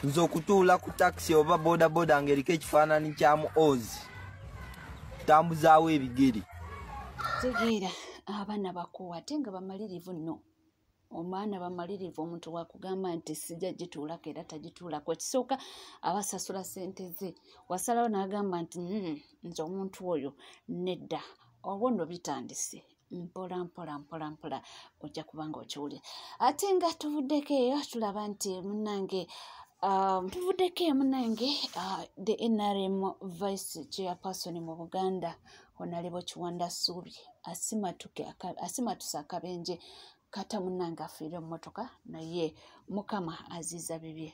nze okutuula ku takisi oba bodaboda ngaeriko ekifaananyi kya mu ozi tambuzaawo ebigere tegeera abaana bakuwa ate nga bamalirivu nno omwana bamalirivu omuntu wakugamba nti sijja gituulako era tagituulako ekisooka abasasula sente ze wasalawo n'agamba nti hmm, nze omuntu oyo nedda obwo nno bitandise mpola mpola mpola mpola ojja kuba nga okiwulira ate nga tuvuddeko eyo tulaba nti munange Um, tuvuddeko emu nange uh, the nrm vice chairperson mu buganda onalebo kiwanda suubi asimatuse akabenje kata munange afiire mumotoka naye mukama aziiza bibye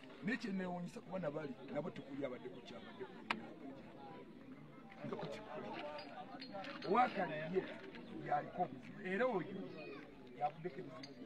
naye kyenewunyisa kuba nabali nabo tekuli abadde kukyabadde wakali ye yaliko obuzibu era oyo yavuddeko ebizibu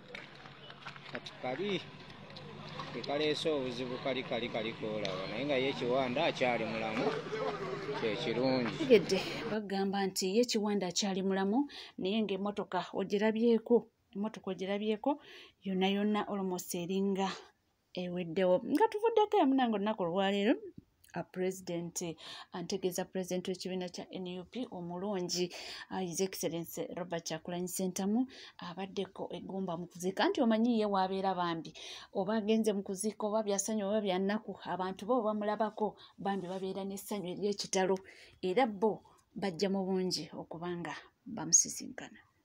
kati kali kekaleese obuzibu kali kali kalikoolaba naye nga ye kiwanda akyali mulamu kyekirungi tegedde bagamba nti ye kiwanda akyali mulamu naye ngaemotoka ogirabyeko emotoka ogirabyeko yona yona olmost eringa eweddewo nga tuvuddeko emunanga olunaku olwaleero pulezidenti antegeeza pulezidenti w'ekibiina kya nup omulungi uh, his excellence robert kyakulanyi sentamu abaddeko egomba mu kuziika nti omanyi ye waabeera bambi oba agenze mu kuziika oba byasanyu oba byannaku abantu bo bamulabako bambi babeera n'essanyu ery'ekitalo era bo bajja mu bungi okubanga bamusisinkana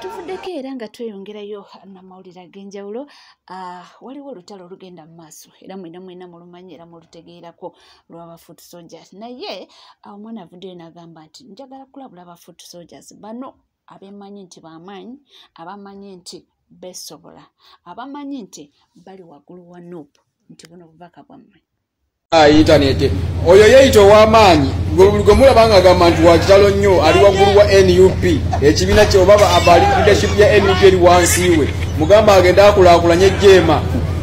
tuvuddeko era nga tweyongerayo namawulire ag'enjawulo ah, waliwo olutalo olugenda mu maaso era mwena mwena mulumanyi era mulutegeerako lwaba foot soldiers naye awo omwana avuddeyo nagamba nti njagala kulabula ba foot soldiers bano abemanyi nti bamaanyi abamanyi nti besobola abamanyi nti bali waggulu wa nup nti buno bubaka bwammwe ah, intaneti oyo yeyita owamaanyi gwemulaba nga agamba nti wakitalo nnyo ali waggulu wa nup ekibiina kyobaba abali leadership ya nup eri wansi we mugamba agenda akulakulanye jeema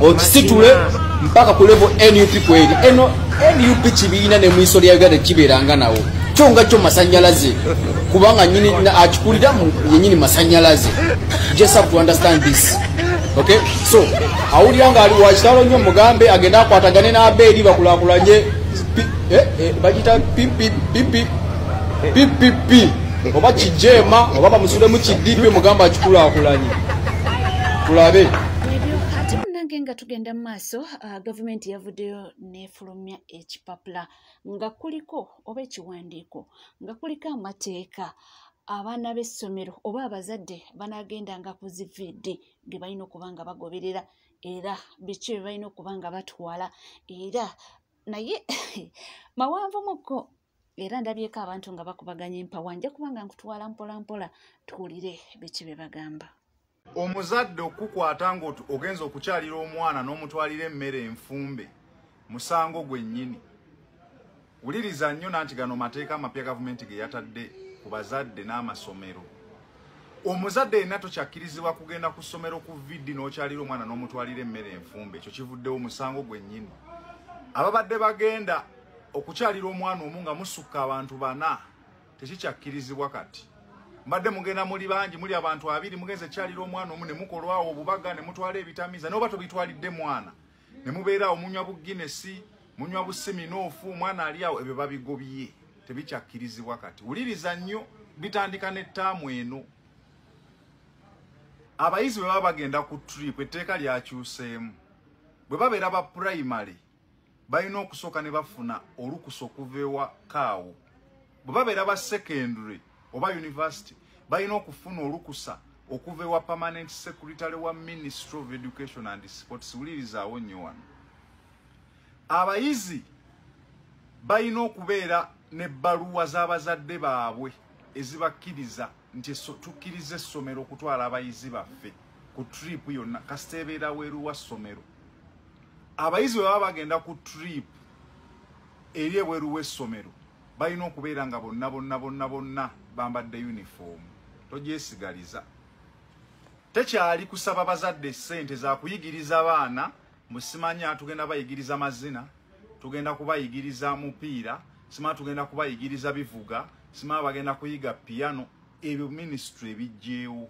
okisitule mpaka ku levo nup kweri eno nup kibiina ne mwiso lya uganda kibeeranga nawo kyo nga kyo masanyalaze kubanga nyini akikulira yenyini masanyalaze just have to understand this okay so awulira nga ali wakitalo nnyo mugambe agenda akwatagane n'abeeri bakulakulanye eh, eh, bagita ppp ppp oba kijeema oba bamusulemu kidipi mugambe akikulakulanye tulabe ate munange nga tugenda mu maaso uh, gavumenti yavuddeyo nefulumya ekipapula nga kuliko oba ekiwandiiko nga kuliko amateeka abaana b'essomero oba abazadde banagendanga ku ziviidi ge balina okuba nga bagoberera era biki bye balina okuba nga batwala era naye mawanvumukko era ndabyeko abantu nga bakubaganya empawa nja kubanga nkutwala mpolampola tuwulire biki bye bagamba omuzadde okukukwata ngaoti ogenza okukyalira omwana n'omutwalira emmere enfumbe musango gwennyini wuliriza nnyo nanti gano mateeka amapya gavumenti ge yatadde ku bazadde n'amasomero omuzadde yenna tokyakkirizibwa kugenda ku ssomero ku vidi n'okyalira omwana n'omutwalira emmere enfumbe ekyo kivuddewo musango gwennyini ababadde bagenda okukyalira omwana omu nga musukka abantu bana tekikyakkirizibwa kati mbadde mugenda muli bangi muli abantu abiri mugenza ekyalira omwana omu ne mukolwawo obubaga ne mutwala ebitamiza naye oba tobitwalidde mwana ne mubeeraawo munywa bu ginesi munywa bu siminoofu omwana ali awo ebyo babigobye tebikyakkirizibwa kati wuliriza nnyo bitandika n'ettaamu eno abayizi bwe baba bagenda ku trip etteeka lyakyuseemu bwe babeera ba primary balina okusooka ne bafuna olukusa okuva ewa kaawo bwe babeera ba secondary oba university balina okufuna olukusa okuva ewa permanent secretary wa ministry of education and sports wulirizawo nnyo wano abayizi balina okubeera ne bbaluwa z'abazadde baabwe ezibakkiriza nti tukkiriza essomero okutwala abayizi baffe ku trip yonna kasita ebeera weeru wa ssomero abayizi bwe baba bagenda ku trip eri ebweru w'essomero balina okubeera nga bonna bonna bonna bonna bambadde yunifoomu togyesigaliza tekyali kusaba bazadde ssente zakuyigiriza baana Musimanya tugenda bayigiriza mazina, tugenda kubayigiriza mupiira, sima tugenda kubayigiriza bivuga, sima bagenda kuyiga piano, ebyo ministry ebijjeewo.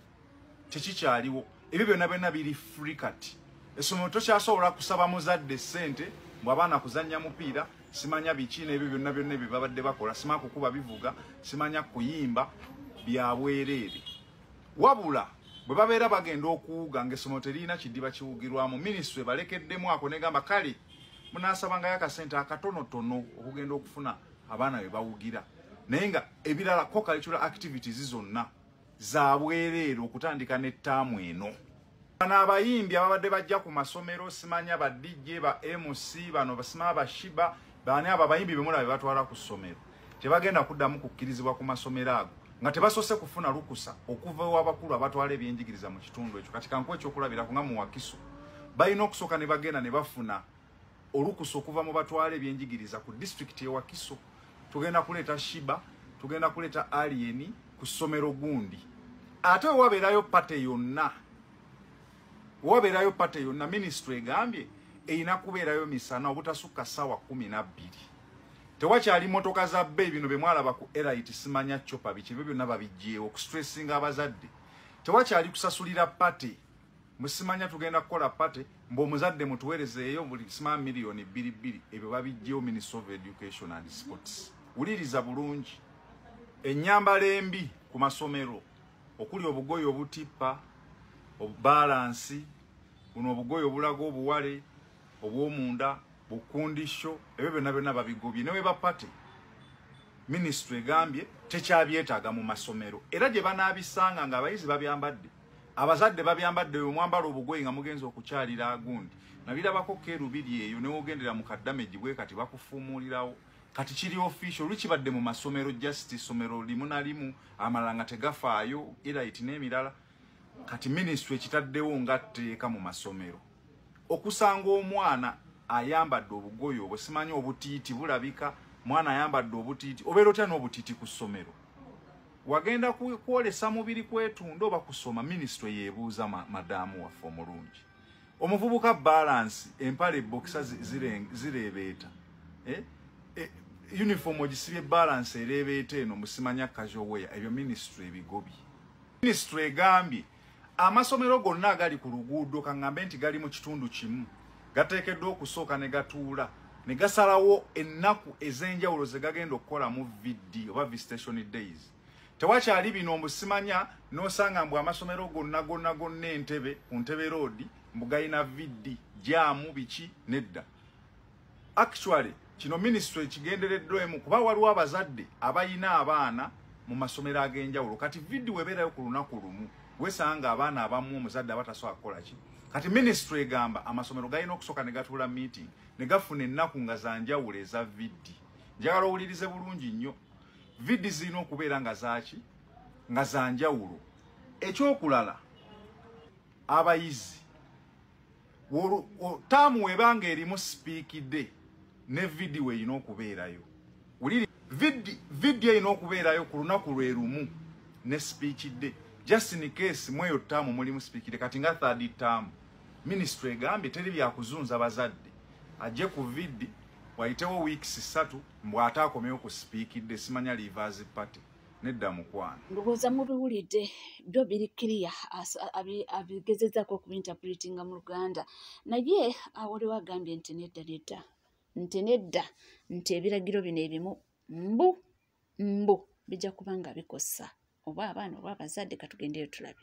Tekikyaliwo. Ebyo byonna byonna biri free kati. Essomero tokyasobola kusaba muzadde ssente mbu abaana kuzannya mupiira, simanya biki n'ebyo byonna byonna ebyo babadde bakola, sima kukuba bivuga, simanya kuyimba bya bwereere. wabula bwe babeera bagenda okuwuga ngaessomero teririna kidiba kiwugirwamu minisitule balekeddemu ako negamba kale munasabangayo akasente akatonotono okugenda okufuna abaana be bawugira naye nga ebirala ko cultural activities zonna zabwereere okutandika ne ttaamu eno Bano abayimbi ababadde bajja ku masomero simanya ba DJ ba MC bano basima ba Shiba bani aba bayimbi bemula bebatwala ku somero tebagenda kuddamu kukkirizibwa ku masomero ago nga tebasose kufuna lukusa okuva ewabakulu abatwala ebyenjigiriza mu kitundu ekyo kati kankuwa ekyokulabira kunga muwakiso balina okusooka ne bagenda ne bafuna olukusa okuva mu batwala ebyenjigiriza ku disitulikiti ewakiso tugenda kuleeta shiba tugenda kuleeta aliyeni ku ssomero gundi ate wewabeerayo pate yonna wewabeerayo pate yonna minisitule egambye erina kubeerayo misana obutasukka ssaawa kumi nabbiri tewakyali motoka za bbeeyi bino bye mwalaba ku erit simanya copa biki ebyo byonna babijjeewo okustressinga abazadde tewakyali kusasulira pate musimanya tugenda kukola party mbo muzadde mutuwereze eyo buli sima million bili bili ebyo babijjeo minister of education and sports uliriza bulungi enyamba lembi ku masomero okuli obugoyo obutipa obubalansi buno obugoyo obulago obuwale obwomunda bukundisho ebyo byonna byonna babigobye newe ba party ministry egambye tekyabyetaaga mu masomero era gye banaabisanga ng'abayizi babyambadde abazadde babyambadde oyo mwambala obugoye nga mugenza okukyalira agundi nabirabako kerubiri eyo newogendera mu kadamage bwe kati bakufuumuulirawo kati kiri official lukibadde mu masomero just isomero limu na limu amalanga tegafaayo era iti n'emirala kati ministry ekitaddewo nga tteeka mu masomero okusanga omwana ayambadde obugoye obwo simanyi obutiiti bulabika mwana ayambadde obutiiti obeera otya n'obutiiti ku ssomero wagenda kwolesa mubiri kwetunda oba kusoma minisitule yebuuza madaamu waffe omulungi omuvubuka balansi empale bokisa zireebeeta eh? eh, uniform ogisibye balansi ereebeeta eno musimanya kajoweya ebyo minisitule ebigobi minisitule egambye amasomero gonna agali ku luguudo kaŋŋambe nti gali mu kitundu kimu gateekeddwa okusooka ne gatuula ne gasalawo ennaku ez'enjawulo ze gagenda okukola mu vidi oba visitation days tewakyali bino mbu simanya n'osanga mbu amasomero gonna gonna gonna entebe ku ntebe roodi mbu galina vidi jaamu biki nedda Actually kino ministry ekigendereddwa emu kuba waliwo abazadde abayina abaana mu masomero ag'enjawulo kati vidiyo ebeerayo ku lunaku lumu wesanga abaana abamu omuzadde aba tasobola kukola ki kati ministry egamba amasomero galina okusooka ne gatuula meeting ne gafuna ennaku nga za njawulo eza vidi njagala owulirize bulungi nnyo vidi zirina okubeera nga zaaki nga za njawulo ekyokulala abayizi taamu webanga erimu sipiikide ne vidiyo erina okubeerayo wuliri vidiyo erina okubeerayo ku lunaku lwe lumu ne sipiikide just in case mweyo taamu mulimu sipiikide kati nga third taamu minisitule egambye teri byakuzunza bazadde ajje ku vidi wayitewo weeks ssatu mbw'ate akomewo ku sipiikidde simanya livazi party nedda mukwano ndowooza mubiwulidde byo biri kiriya abigezezaako okuinterpretinga mu luganda naye awaliwo agambye nti nedda nedda nti nedda nti ebiragiro bino ebimu mbu mbu bijja kuba nga bikosa oba abaana oba abazadde katugendeyo tulabe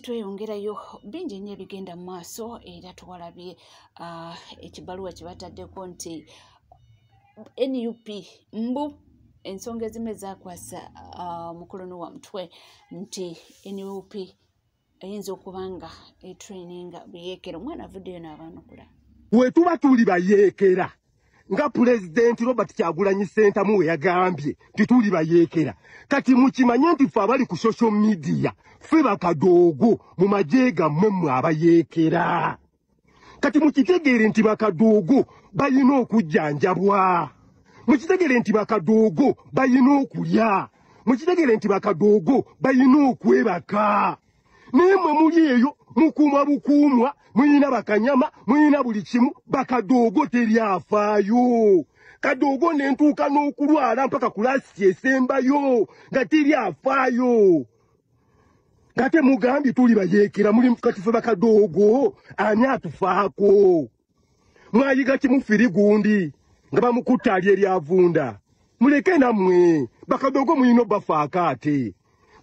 tweyongerayo bingi nnyo ebigenda mu maaso era tuwalabye ah, ekibaluwa kyebataddeko nti nup mbu ensonga ezimu ezakwasa ah, mukulu nowa mutwe nti nup eyinza okuba nga etraininga buyeekera omwana avuddeyo n'abaanukula wetuba tuli bayeekera nga pulezidenti robert kyagulanyi sentamu we yagambye nti tuli bayeekera kati mukimanye nti ffe abali ku social media ffe bakadoogo mu magye gammwe mmwe abayeekera kati mukitegeere nti bakadoogo balina okujjanjabwa mukitegeere nti bakadoogo balina okulya mukitegeere nti bakadoogo balina okwebaka naye mwe muli eyo mukuuma bukuumwa muyina bakanyama muyina buli kimu bakadoogo teri afaayo kadoogo ne ntuuka n'okulwala mpaka kulaasi esembayo nga teri afaayo ngate mugambye tuli bayeekera muli katife bakadoogo ani atufaako mwayiga kimu firi gundi nga bamukutta ali eryavunda muleke namwe bakadogo muyino bafaaka ate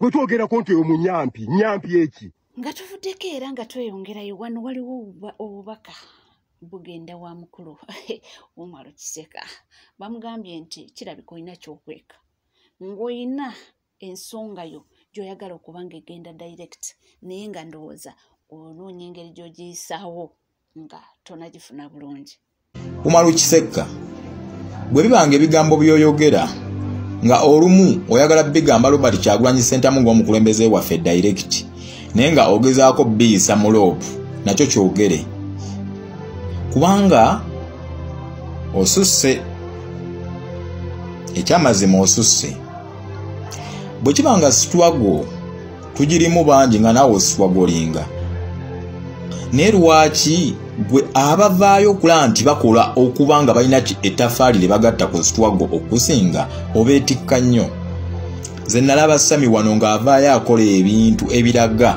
gwe twogerako nti oyo munyampi nyampi eki nga tuvuddeko era nga tweyongerayo wano waliwo obubaka bugenda wa mukulu umalo kiseka bamugambye nti kirabika olina kyokweka ng'olina ensonga yo gyoyagala okuba nga egenda direct naye nga ndowooza onoonya engeri gyogiyisaawo nga tonagifuna bulungi umaru kisekka bwe bibanga ebigambo byoyogera nga olumu oyagala bigamba robert kyagulanyi sentamu ngaomukulembeze waffe direct naye nga ogezaako biyisa mu loopu nakyo kyogere kubanga osusse ekyamazima osusse bwe kiba nga sitwago tugirimu bangi nga naawe ositwagolinga naye lwaki gwe abavaayo okulaba nti bakola okuba nga balina ettafaali lye bagatta ku sitwago okusinga obeetikka nnyo ze nalaba sami wano ng'avaayo akola ebintu ebiraga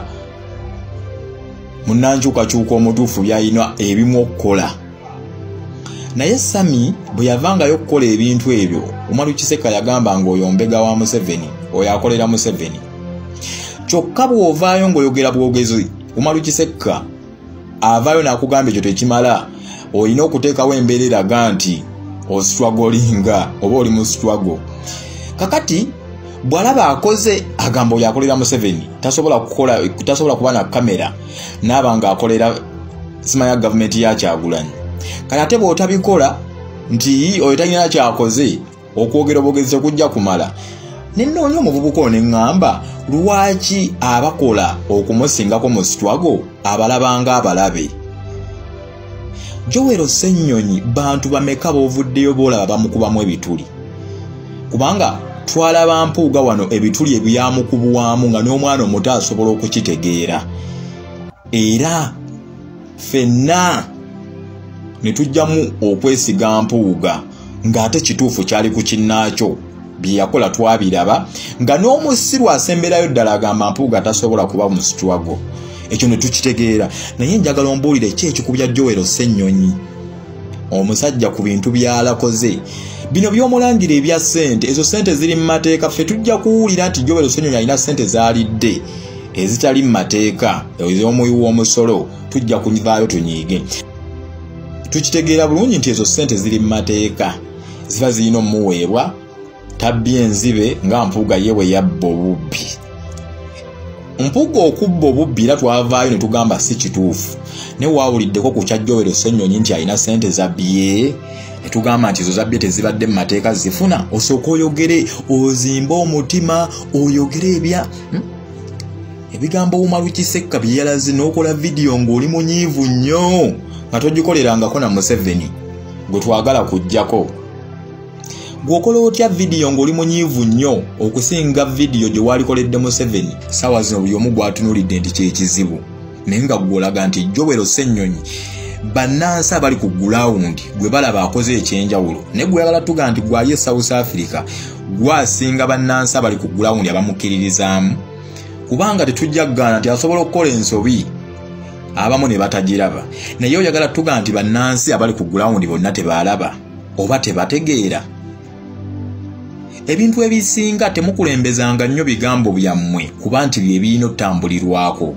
munankyukakyuka omutuufu byalina ebimu okukola naye sami bwe yavangayo okukola ebintu ebyo umaru kiseka yagamba nga oyo mbega wa museveni oyo akolera museveni kyokka bw'ovaayo ng'oyogera bwogezi umaru kisekka avaayo n'akugamba ekyo tekimala olina okuteekawo embeera eraga nti ositwagolinga oba oli mu sitwago kakati bw'alaba akoze agamba oyo akolera museveni tasobola kukola tasobola kuba na kamera naaba ng'akolera simanya gavumenti ya kyagulanyi kati ate bwotabikola nti oyo talina kyakoze okwogera obwogezi tekujja kumala nenoonya omuvubuka ono eŋŋamba lwaki abakola okumusingako mu sitwago abalabanga abalabe jowero ssennyonyi bantu bameka bovuddeyo boolaba bamukubamu ebituli kubanga twalaba mpuuga wano ebituli ebyamukubwamu nga n'omwana omuto asobola okukitegeera era fenna ne tujjamu okwesiga mpuuga ng'ate kituufu kyali ku kinnaakyo bye yakola twabiraba nga n'omusiru asemberayo ddala agamba mpuuga tasobola kuba mu situwago ekyo ne tukitegeera naye njagala ombuulire ki ekikubya jowero ssennyonyi omusajja ku bintu byalakoze bino byomulangira ebya sente ezo sente ziri mu mateeka ffe tujja kuwulira nti jobero senyonyi alina sente zaalidde ezitali mu mateeka ez'omuwi w'omusolo tujja kuvaayo tunyiige tukitegeera bulungi nti ezo sente ziri mu mateeka ziba zirina omuweebwa tabbye enzibe nga mpuuga ye bwe yabba obubbi mpuuga okubba obubbi era twavaayo ne tugamba si kituufu naye waawuliddeko ku kyajjowero ssennyonyi nti alina ssente zabbye ne tugamba nti ezo zabbye tezibadde mu mateeka zifuna osooka oyogere ozimbe omutima oyogere ebya hmm? ebigambo wumalu kisekka bye yalaze n'okola vidiyo ng'oli munyiivu nnyo nga togikolerangako na museveni gwe twagala kujjako gweokola otya vidiyo ng'oli munyiivu nnyo okusinga vidiyo gye waalikoledde museveni saawa zino buli omu gwatunulidde nti kyekizibu naye nga gwolaga nti jowero ssennyonyi bannansi abali ku gulawundi gwe balaba akoze ekyenjawulo naye gweyagala tuga nti gwali e south africa gwasinga bannansi abali ku gulawundi abamukkiririzaamu kubanga tetujja kugaana nti asobola okukola ensobi abamu ne batagiraba naye oyagala tuga nti bannansi abali ku gulawundi bonna tebaalaba oba tebategeera ebintu ebisinga temukulembezanga nnyo bigambo byammwe kuba nti bye birina otambulirwako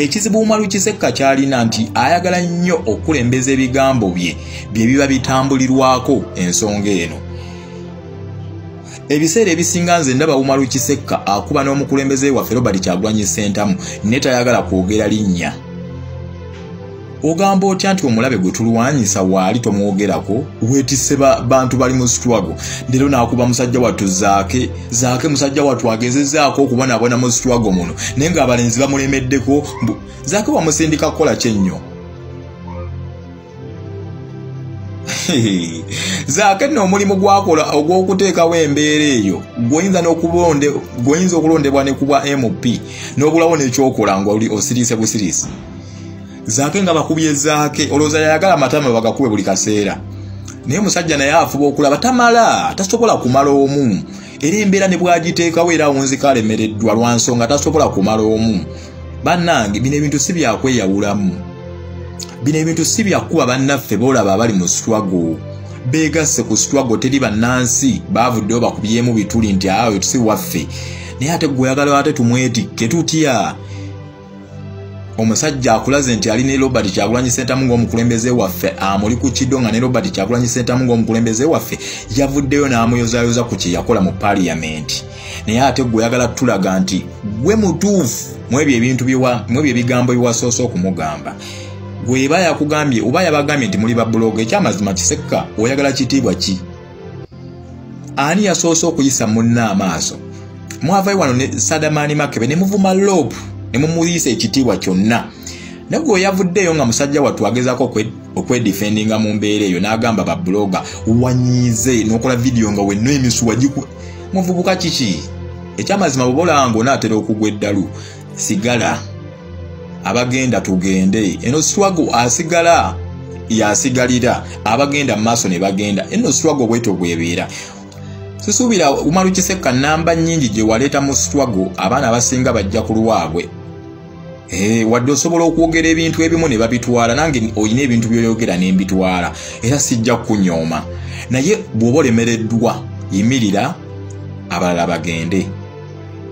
ekizibu umaru kisekka kyalina nti ayagala nnyo okukulembeza ebigambo bye bye biba bitambulirwako ensonga eno ebiseera ebisinga nze ndaba umaru kisekka akuba n'omukulembeze waffe robert kyagwanyi sentamu ne tayagala kwogera linnya ogamba otya nti omulabe gwe tulwanyisa waali tomwogerako wetise bantu bali mu struggle leero nakuba musajja wattu zaake zaake musajja wattu agezezaako okubonabona mu struggle muno naye nga abalenzi bamulemeddeko zaake wamusindika kukola kyennyo zaake nno omulimu gwakola ogw'okuteekawo embeera eyo gwoyinza gwoyinza okulondebwa ne kubwa mp n'obulawo nekyokola nga oli osiriise busiriisi zaake nga bakubye zaake olowooza yayagala amatama bagakube buli kaseera naye musajja naye afuba okulaba tamala tasobola kumala omu era embeera ne bwagiteekawo era awunzika alemereddwa lwa nsonga tasobola kumala omu bannange bino ebintu si byakweyawulamu bino ebintu si byakuba bannaffe boolaba abali mu swago beegasse ku swago teri bannansi baavuddeyo bakubyemu bituli nti ayo tusi waffe naye ate gweoyagala ate tumwetikke tutya omusajja akulaze nti ali ne robert kyagulanyi sentamu ngaomukulembeze waffe amuli ku kido nga ne robert kyagulanyi sentamu ngaomukulembeze waffe yavuddeyo n'amuyozayoza ku kyeyakola mu paliyamenti naye ate gwe oyagala tulaga nti gwe mutuufu mwebyo ebintu mwebyo ebigambo biwasoose okumugamba gweba yakugambye oba yabagambye nti muli babuloga ekyamazima kisekka oyagala kitiibwa ki ani yasoose okuyisa munne amaaso mwavayo wano ne sadamaani makebe ne muvuma loopu ne mumuyisa ekitiibwa kyonna naye gwe yavuddeeyo nga musajja wattu agezaako okwedifendinga mu mbeera eyo n'agamba babuloga wanyiize n'okola vidiyo nga wenna emisuwa giku muvubuka kiki ekyamazima bwoba olaba ngaonaatera okugwa eddalu sigala abagenda tugende eno swago asigala yasigalira abagenda mumaaso nebagenda eno swago bwetyo bwebeera sisuubira umaru kisekka namba nyingi gyewaleeta mu swago abaana abasinga bajja ku lwabwe Eh, wadde osobola okwogera ebintu ebimu ne babitwala nange olina ebintu byoyogera ne mbitwala era sijja kunyooma naye bw'oba olemereddwa yimirira abalala bagende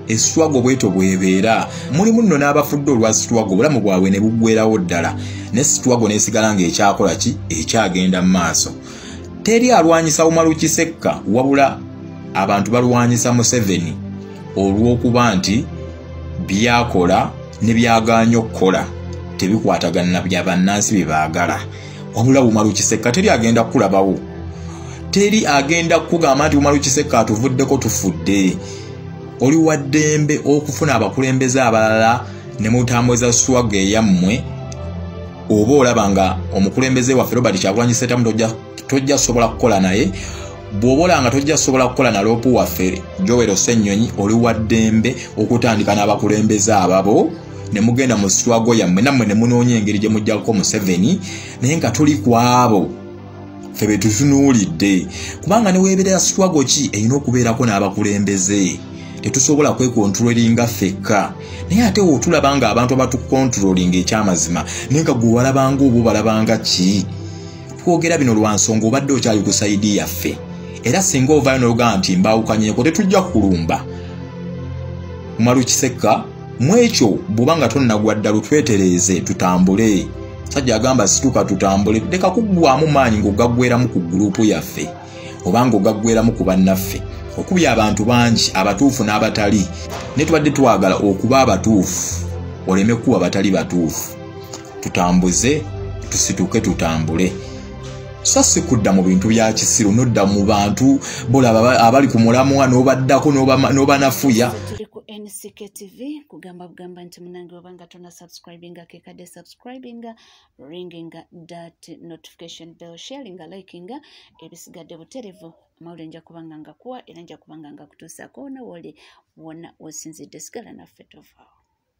eswago bweto bwebeera mulimu nno n'abafudde olwa sitwago obulamu bwabwe ne buggwerawo ddala ne sitwago n'esigala ng'ekyakola ki ekyagenda mu maaso teri alwanyisa umaru kisekka wabula abantu balwanyisa museveni olw'okuba nti byakola ne byagaanya okukola tebikwatagana na bya bannansi bye baagala wabula bumalu kisekka teri agenda kukulabawo teri agenda kukugamba nti bumalu kisekka atuvuddeko tufudde oli wa ddembe okufuna abakulembeze abalala ne mutambuza swaga eyammwe oba olaba nga omukulembeze waffe robert kyagulanyi setamu tojja sobola kukola naye bw'oba olanga tojja sobola kukola na loopu waffe jowero ssennyonyi oli wa ddembe okutandika n'abakulembeze ababo ne mugenda mu sitwago yammwe nammwe ne munoonya engeri gye mujjako museveni naye nga tuli ku abo fe be tutunuulidde kubanga ne weebeera sitwago ki erina okubeerako n'abakulembeze tetusobola kwekontrolinga fekka naye ate wotulaba nga abantu abatukontrolinga ekyamazima naye nga gwe walabanga oba obalabanga ki twogera bino lwa nsonga obadde okyali ku saidi yaffe era singa ovayo nolugamba nti mbaawukanyeko tetujja kulumba malukisekka mu ekyo bw'oba nga tonnagwa ddalu twetereeze tutambule sajja agamba situka tutambule leka kuggwamu maanyi ng'ogaggweramu ku guluupu yaffe oba ng'ogaggweramu ku bannaffe okubya abantu bangi abatuufu n'abatali naye tubadde twagala okuba abatuufu oleme kuba batali batuufu tutambuze tusituke tutambule so si kudda mu bintu bya kisiru nodda mu bantu bolaba abali ku mulamwa n'obaddako n'obanafuya CKTV kugamba bugamba nti munange oba nga tona subscribinga kekade subscribinga ringinga dat notification bell sharinga likinga ebisigadde buterevu amawulire nja kubanga nga kuwa era nja kubanga nga kutuusaako wona woli wona wosinzidde sigala naffe tovaawo